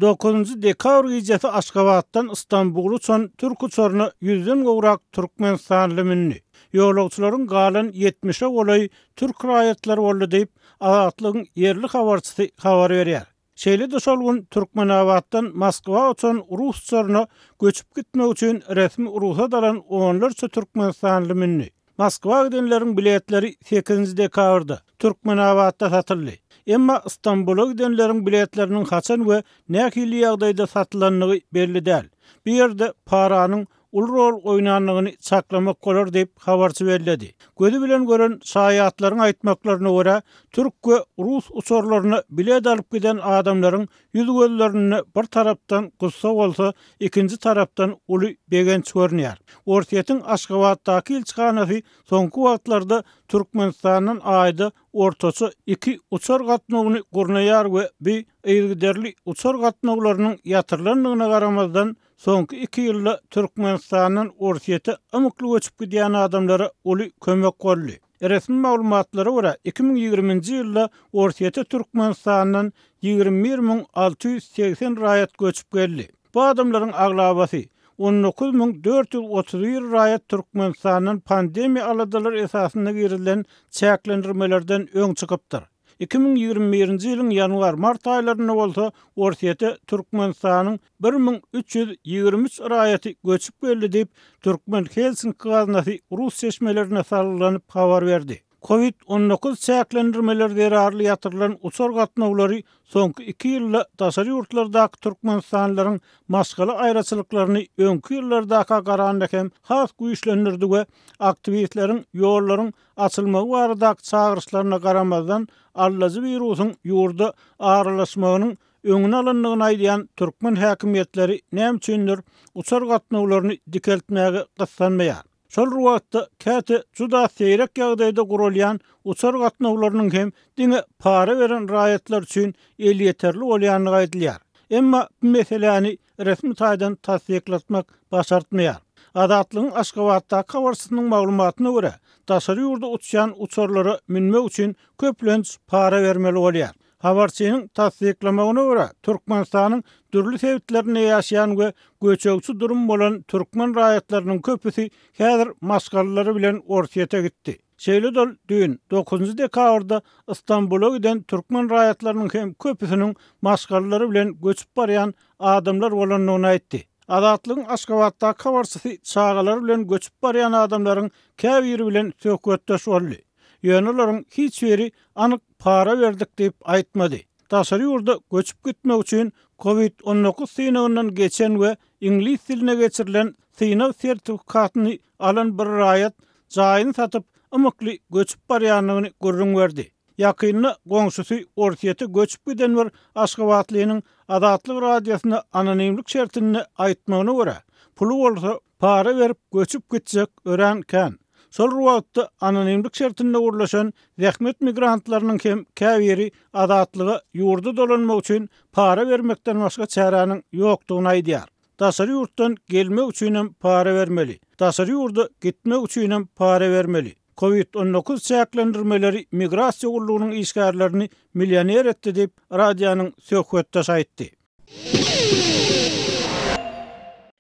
Dokuzynjy dekabr gijesi Aşgabatdan Ystambula uçan türk uçaryna ýüzden gowrak türkmenistanly mündi. Ýolagçylaryň galan ýetmişe golaýy türk raýatlary boldy diýip, Azatlygyň ýerli habarçysy habar berýär. Şeýle-de şol gün Türkmenabatdan Moskwa uçan rus uçaryna göçüp gitmek üçin resmi rugsat alan onlarça türkmenistanly mündi. Moskwa gidenleriň biletleri sekizinji dekabrda Türkmenabatda satyldy. Emma Stambula gidenleriň biletleriniň haçan we nähili ýagdaýda satylandygy belli däl. Bu ýerde paranyň uly rol oýnandygyny çaklamak bolar diýip, habarçy belledi. Gözi bilen gören şaýatlaryň aýtmaklaryna görä, türk we rus uçarlaryna bilet alyp giden adamlaryň Ýüz-gözlerinde bir tarapdan gussa bolsa, ikinji tarapdan uly begenç görünýär. Orsýetiň Aşgabatdaky ilçihanasy soňky wagtlarda Türkmenistandan aýda ortaça iki uçar gatnawyny gurnaýar we bi yzygiderli uçar gatnawlarynyň ýatyrylandygyna garamazdan, soňky iki ýylda Türkmenistandan Orsýete ymykly göçüp gidýän adamlara uly kömek boldy. Resmi maglumatlara görä, iki müň ýigriminji ýylda Orsýete Türkmenistandan ýigrimi bir müň alty ýüz segsen raýat göçüp geldi. Bu adamlaryň aglabasy, on dokuz müň dört ýüz otuz bir raýat Türkmenistandan pandemiýa aladalary esasynda girizilen çäklendirmelerden öň çykypdyr. Iki müň ýigrimi birinji ýylyň ýanwar-mart aýlarynda bolsa Orsýete Türkmenistanyň bir müň üç ýüz ýigrimi üç raýaty göçüp geldi diýip, Türkmen Helsinki gaznasy rus çeşmelerine salgylanyp habar berdi. Covid on dokuz çäklendirmeleri zerarly ýatyrylan uçar gatnawlary soňky iki ýylda daşary ýurtlardaky türkmenistanlylaryň maşgala aýraçylyklaryny öňki ýyllardaka garanda hem has güýçlendirdi we aktiwistleriň ýollaryň açylmagy baradaky çagyryşlaryna garamazdan, aldajy wirusyň ýurda aralaşmagynyň öňüni alandygyny aýdýan türkmen häkimiýetleri näme üçindir, uçar gatnawlaryny dikeltmäge gyssanmaýar. Şol bir wagtda, käte juda seýrek ýagdaýda guralýan uçar gatnawlarynyň hem diňe para beren raýatlar üçin elýeterli bolýandygy aýdylýar. Emma bu meseläni resmi taýdan tassyklatmak başartmaýar. Azatlygyň Aşgabatdaky habarçysynyň maglumatyna görä, daşary ýurda uçýan uçarlara münmek üçin köplenç para bermeli bolýar. Habarçynyň tassyklamagyna görä, Türkmenistanyň dürli sebitlerinde ýaşaýan we göçegçi durum bolan türkmen raýatlarynyň köpüsi häzir maşgalalary bilen Orsýete gitdi. Şeýle-de ol düýn, dokuzynjy dekabrda Ystambula giden türkmen raýatlarynyň hem köpüsiniň maşgalalary bilen göçüp barýan adamlar bolandygyny aýtdy. Azatlygyň Aşgabatdaky habarçysy çagalary bilen göçüp barýan adamlaryň käbiri bilen söhbetdeş boldy. Ýöne olaryň hiç biri anyk para berdik diýip aýtmady. Daşary ýurda göçüp gitmek üçin covid on dokuz synagyndan geçen we iňlis diline geçirilen synag sertifikatyny alan bir raýat jaýyny satyp, ymykly göçüp barýandygyny gürrüň berdi. Ýakynda goňşusy Orsýete göçüp giden bir aşgabatlynyň Azatlyk Radiosyna anonimlik şertinde aýtmagyna görä, puly bolsa, para berip göçüp gitjek örän kän. Şol bir wagtda, anonimlik şertinde gürleşen zähmet migrantlarynyň hem käbiri Azatlyga ýurda dolanmak üçin para bermekden başga çäräniň ýokdugyny aýdýar. Daşary ýurtdan gelmek üçinem para bermeli. Daşary ýurda gitmek üçinem para bermeli. Covid on dokuz çäklendirmeleri migrasiýa gullugynyň işgärlerini millioner etdi diýip, radionyň söhbetdeşi aýtdy.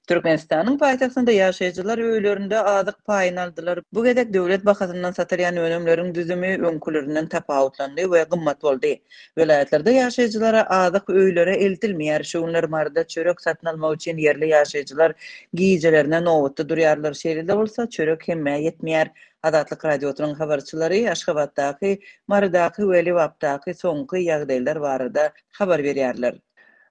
Türkmenistanyň paýtagtynda ýaşaýjylar öýlerinde azyk paýyny aldylar. Bu gezek döwlet bahasyndan satylýan önümleriň düzümi öňkülerinden tapawutlandy we gymmat boldy. Welaýatlarda ýaşaýjylara azyk öýlere eltilmeýär. Şu günler Maryda çörek satyn almak üçin ýerli ýaşaýjylar gijelerine nobatda durýarlar. Şeýle-de bolsa, çörek hemmä ýetmeýär. Azatlyk Radiosynyň habarçylary Aşgabatdaky, Marydaky we Lebapdaky soňky ýagdaýlar barada habar berýärler.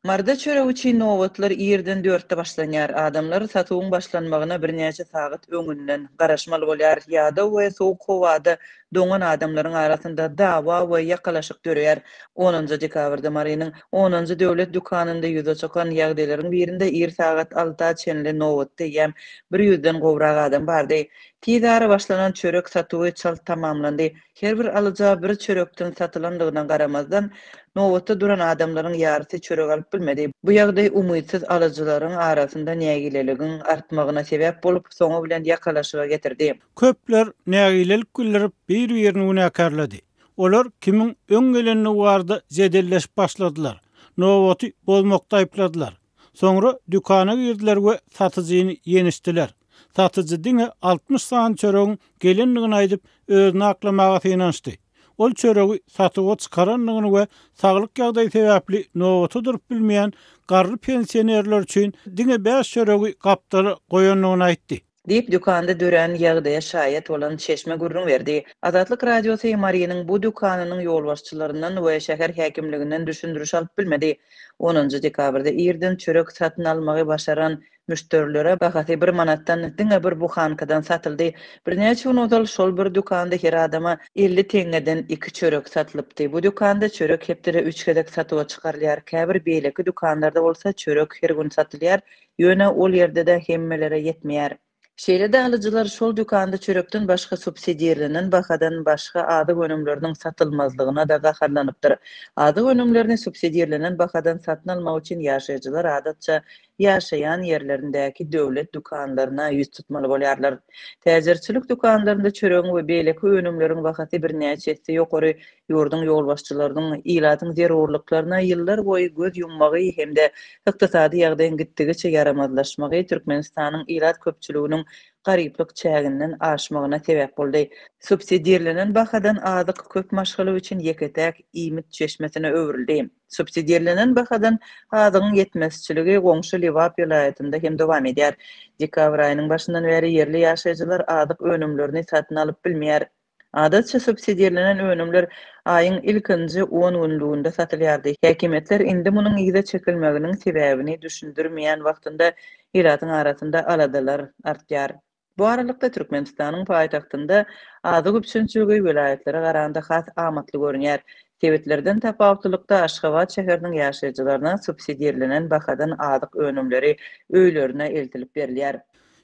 Marda çöregi üçin nobatlar irden dörtde başlanýar. Adamlar satuwyň başlanmagyna birnäçe sagat öňünden garaşmaly bolýar. Ýada we sowuk howada doňan adamlaryň arasynda dawa we ýakalaşyk döreýär. Onunjy dekabrda Marynyň Onunjy döwlet dükanynda ýüze çykan ýagdaýlaryň birinde ir sagat alta çenli nobatda eýýäm bir ýüzden gowrak adam bardy. Tiz ara başlanan çörek satuwy çalt tamamlandy. Her bir alyja bir çörekden satylandygyna garamazdan, nobatda duran adamlaryň ýarysy çörek alyp bilmedi. Bu ýagdaý umytsyz alyjylaryň arasynda nägileligiň artmagyna sebäp bolup, soňy bilen ýakalaşyga getirdi. Köpler nägilelik bildirip, bir-birini günäkärledi. Olar kimiň öň gelenligi barada jedelleşip başladylar, nobaty bozmakda aýypladylar. Soňra dükana girdiler we satyjyny ýenişdiler. Satyjy diňe altmyş sany çöregiň gelendigini aýdyp, özüni aklamaga synanyşdy. Ol çöregi satuwa çykarandygyny we saglyk ýagdaýy sebäpli nobata durup bilmeýän garry pensionerler üçin diňe bäş çöregi gapdala goýandygyny aýtdy. diýip, dükanda dörän ýagdaýa şaýat bolan çeşme gürrüň berdi. Azatlyk Radiosy Marynyň bu dükanynyň ýolbaşçylaryndan we şäher häkimliginden düşündiriş alyp bilmedi. Onunjy dekabrda irden çörek satyn almagy başaran müşderilere bahasy bir manatdan diňe bir buhankadan satyldy. Birnäçe gün ozal şol bir dükanda her adama elli teňňeden iki çörek satylypdy. Bu dükanda çörek hepdede üç gezek satuwa çykarylýar. Käbir beýleki dükanlarda bolsa çörek her gün satylýar, Ýöne ol ýerde-de hemmelere ýetmeýär. Şeýle-de alyjylar şol dükanda çörekden başga subsidirlenen bahadan başga azyk önümleriniň satylmazlygyna-da gaharlanypdyr. Azyk önümlerini subsidirlenen bahadan satyn almak üçin ýaşaýjylar adatça ýaşaýan ýerlerindäki döwlet dükanlaryna ýüz tutmaly bolýarlar. Täjirçilik dükanlarynda çöregiň we beýleki önümleriň bahasy birnäçe esse ýokary ýurduň ýolbaşçylarynyň ilatyň zerurlyklaryna ýyllarboýy göz ýummagy hem-de ykdysady ýagdaýyň gitdigiçe ýaramazlaşmagy Türkmenistanyň ilat köpçüliginiň garyplyk çäginden aşmagyna sebäp boldy. Subsidirlenen bahadan azyk köp maşgala üçin ýeke-täk iýmit çeşmesine öwrüldi. Subsidirlenen bahadan azygyň ýetmezçiligi goňşy Lebap welaýatynda hem dowam edýär. Dekabr aýynyň başyndan bäri ýerli ýaşaýjylar azyk önümlerini satyn alyp bilmeýär. Adatça subsidirlenen önümler aýyň ilkinji on günlüginde satylýardy. Häkimiýetler indi munuň yza çekilmeginiň sebäbini düşündirmeýän wagtynda ilatyň arasynda aladalar artýar. Bu aralykda, Türkmenistanyň paýtagtynda azyk üpjünçiligi welaýatlara garanda has amatly görünýär. Sebitlerden tapawutlylykda, Aşgabat şäheriniň ýaşaýjylaryna subsidirlenen bahadan azyk önümleri öýlerine eltilip berilýär.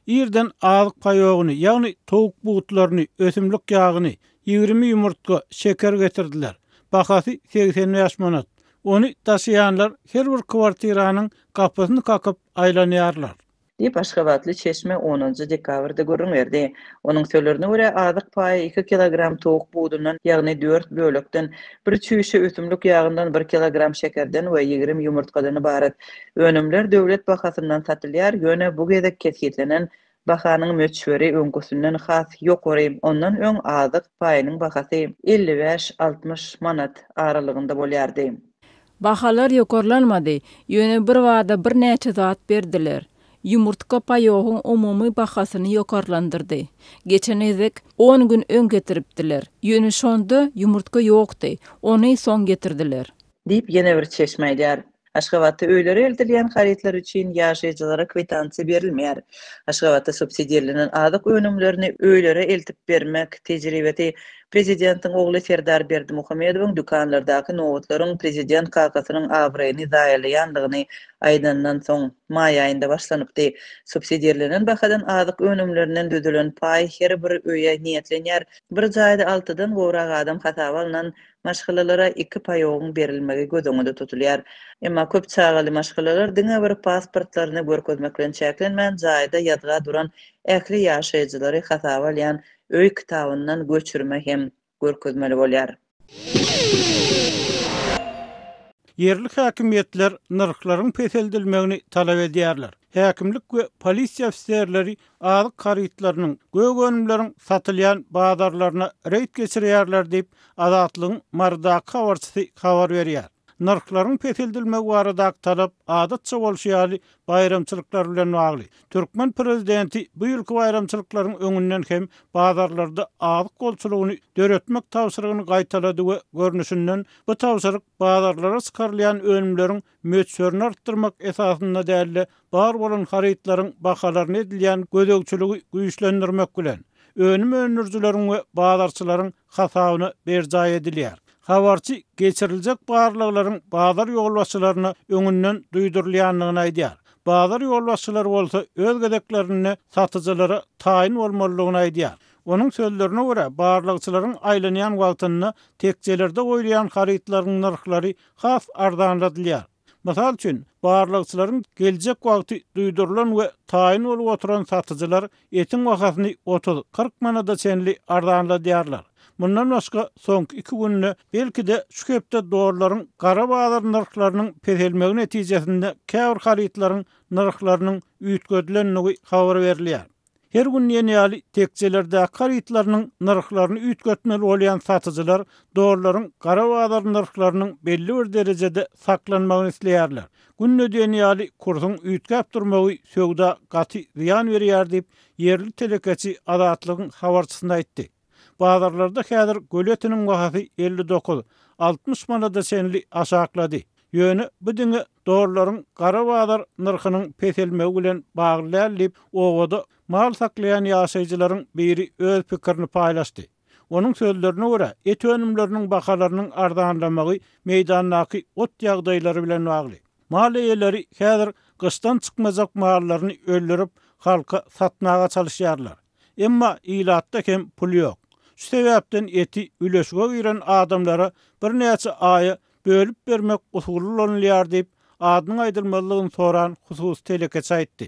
Irden azyk paýogyny, ýagny towuk butlaryny, ösümlik ýagyny, ýigrimi ýumurtga, şeker getirdiler. Bahasy segsen bäş manat. Ony daşaýanlar her bir kwartiranyň gapysyny kakyp aýlanýarlar. Diýip, aşgabatly çeşme onunjy dekabrda gürrüň berdi. Onuň sölerine görä, azyk paýy iki kilogram towuk budundan, ýagny dört bölekden, bir çüýşe ösümlik ýagyndan, bir kilogram şekerden we ýigrimi ýumurtgadan ybarat. Önümler döwlet bahasyndan satylýar, ýöne bu gezek kesgitlenen bahanyň möçberi öňküsinden has ýokary, ondan öň azyk paýynyň bahasy elli bäş, altmyş manat aralygynda bolýardy. Bahalar ýokarlanmady, ýöne birbada birnäçe zat berdiler. Ýumurtga paýogyň umumy bahasyny ýokarlandyrdy. Geçen gezek on gün öň getiripdiler, ýöne şonda ýumurtga ýokdy, ony soň getirdiler. Diýip, ýene bir çeşme aýdýar. Aşgabatda öýlere eltilýän harytlar üçin ýaşaýjylara kwitansiýa berilmeýär. Aşgabatda subsidirlenen azyk önümlerini öýlere eltip bermek tejribesi prezidentiň ogly Serdar Berdimuhamedowyň dükanlardaky nobatlaryň prezident kakasynyň abraýyny zaýalaýandygyny aýdanyndan soň, maý aýynda başlanypdy. Subsidirlenen bahadan azyk önümlerinden düzülen paý her bir öýe niýetlenýär. Bir jaýda altydan gowrak adam hasaba alnan maşgalalara iki paýagyň berilmegi göz öňünde tutulýar. Emma köp çagaly maşgalalar diňe bir pasportlaryny görkezmek bilen çäklenmän, jaýda ýazga duran ähli ýaşaýjylary hasaba alýan öý kitabyndan göçürme hem görkezmeli bolýar. Ýerli häkimiýetler nyrhlaryň peseldilmegini talap edýärler. Häkimlik we polisiýa ofiserleri azyk harytlarynyň, gök önümleriň satylýan bazarlaryna reýd geçirýärler diýip, Azatlygyň Marydaky habarçysy habar berýär. Nyrhlaryň peseldilmegi baradaky talap, adatça bolşy ýaly, baýramçylyklar bilen bagly. Türkmen prezidenti bu ýylky baýramçylyklaryň öňünden hem bazarlarda azyk bolçulygyny döretmek tabşyrygyny gaýtalady we görnüşinden, bu tabşyryk bazarlara çykarylýan önümleriň möçberini artdyrmak esasynda däl-de, bar bolan harytlaryň bahalaryna edilýän gözegçiligi güýçlendirmek bilen, önüm öndürijileriň we bazarçylaryň hasabyna berjaý edilýär. Habarçy geçiriljek barlaglaryň bazar ýolbaşçylaryna öňünden duýdurylýandygyny aýdýar. Bazar ýolbaşçylary bolsa öz gezeklerinde satyjylara taýyn bolmalydygyny aýdýar. Onuň sözlerine görä, barlagçylaryň aýlanýan wagtynda tekjelerde goýulýan harytlaryň nyrhlary has arzanladylýar. Mysal üçin, barlagçylaryň geljek wagty duýdurylan we taýyn bolup oturan satyjylar etiň bahasyny otuz, kyrk manada çenli arzanladýarlar. Mundan başga, soňky iki günde, belki-de, şu hepde dollaryň gara bazar nyrhlarynyň peselmegi netijesinde käbir harytlaryň nyrhlarynyň üýtgedilendigi habar berilýär. Her gün diýen ýaly tekjelerdäki harytlarynyň nyrhlaryny üýtgetmeli bolýan satyjylar dollaryň gara bazar nyrhlarynyň belli bir derejede saklanmagyny isleýärler. Günde diýen ýaly kursuň üýtgäp durmagy söwda gaty zyýan berýär diýip, ýerli telekeçi Azatlygyň habarçysyna aýtdy. Bazarlarda häzir göl etiniň bahasy elli dokuz, altmyş manada çenli aşaklady. Ýöne bu diňe dollaryň gara bazar nyrhynyň peselmegi bilen bagly däl diýip, obada mal saklaýan ýaşaýjylaryň biri öz pikirini paýlaşdy. Onuň sözlerine görä, et önümleriniň bahalarynyň arzanlamagy meýdandaky ot ýagdaýlary bilen bagly. Mal eýeleri häzir gyşdan çykmajak mallaryny öldürip, halka satmaga çalyşýarlar. Emma ilatda hem pul ýok. Şu sebäpden eti üleşige giren adamlara birnäçe aýa bölüp bermek usuly ulanylýar diýip, adynyň aýdylmazlygyny soran hususy telekeçi aýtdy.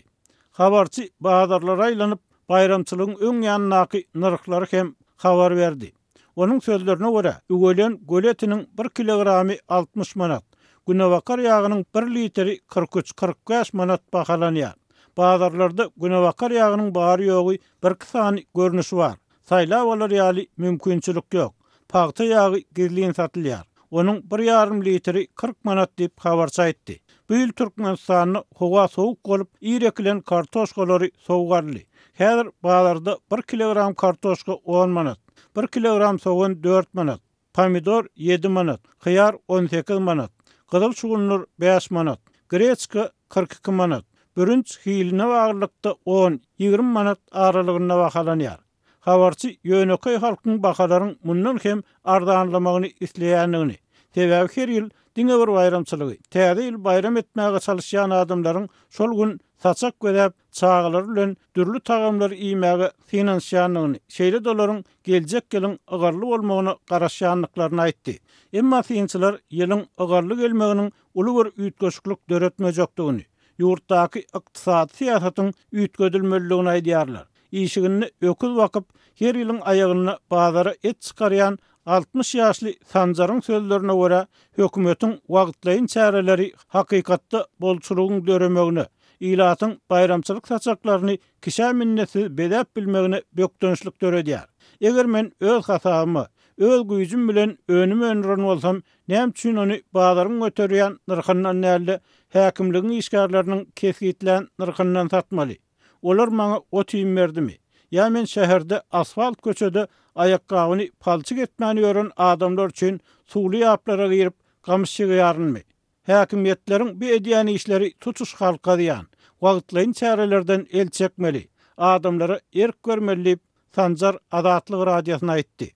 Habarçy bazarlara aýlanyp, baýramçylygyň öň ýanyndaky nyrhlary hem habar berdi. Onuň sözlerine görä, üwelen göl etiniň bir kilogramy altmyş manat, günebakar ýagynyň bir litri kyrk üç, kyrk bäş manat bahalanýar. Bazarlarda günebakar ýagynyň bary-ýogy birki sany görnüşi bar. Saýlap alar ýaly mümkinçilik ýok. Pagta ýagy gizlin satylýar. Onuň bir ýarym litri kyrk manat diýip, habarçy aýtdy. Bu ýyl Türkmenistanda howa sowuk bolup, ir ekilen kartoşkalary sowgarly. Häzir bazarda bir kilogram kartoşka on manat, bir kilogram sogan dört manat, pomidor ýedi manat, hyýar on sekiz manat, gyzyl şugundyr bäş manat, greçka kyrk iki manat, bürünç hiline baglylykda on, ýigrimi manat aralygynda bahalanýar. Habarçy ýönekeý halkyň bahalaryň mundan hem arzanlamagyny isleýändigini, sebäbi her ýyl diňe bir baýramçylygy, Täze ýyl baýram etmäge çalyşýan adamlaryň şol gün saçak bezäp, çagalary bilen dürli tagamlary iýmäge synanyşýandygyny, şeýle-de olaryň geljek ýylyň ygally bolmagyna garaşýandyklaryny aýtdy. Emma synçylar ýylyň ygally gelmeginiň uly bir üýtgeşiklik döretmejekdigini, ýurtdaky ykdysady syýasatyň üýtgedilmelidigini aýdýarlar. Işiginde öküz bakyp, her ýylyň aýagynda bazara et çykarýan altmyş ýaşly Sanjaryň sözlerine görä, hökümetiň wagtlaýyn çäreleri hakykatda bolçulygyň döremegine, ilatyň baýramçylyk saçaklaryny kişä minnetsiz bezäp bilmegine bökdençlik döredýär. Eger men öz hasabyma, öz güýjüm bilen önüm öndüren bolsam, näme üçin ony bazaryň göterýän nyrhyndan däl-de, häkimligiň işgärleriniň kesgitlän nyrhyndan satmaly? Olar maňa ot-iým berdimi? Ýa men şäherde asfalt köçede aýakgabyny palçyk etmän ýören adamlar üçin suwly ýaplara girip, gamyş ýygýarynmy? Häkimiýetleriň bu edýän işleri tutuş halka zyýan. Wagtlaýyn çärelerden el çekmeli, adamlara erk bermeli diýip, Sanjar Azatlyk Radiosyna aýtdy.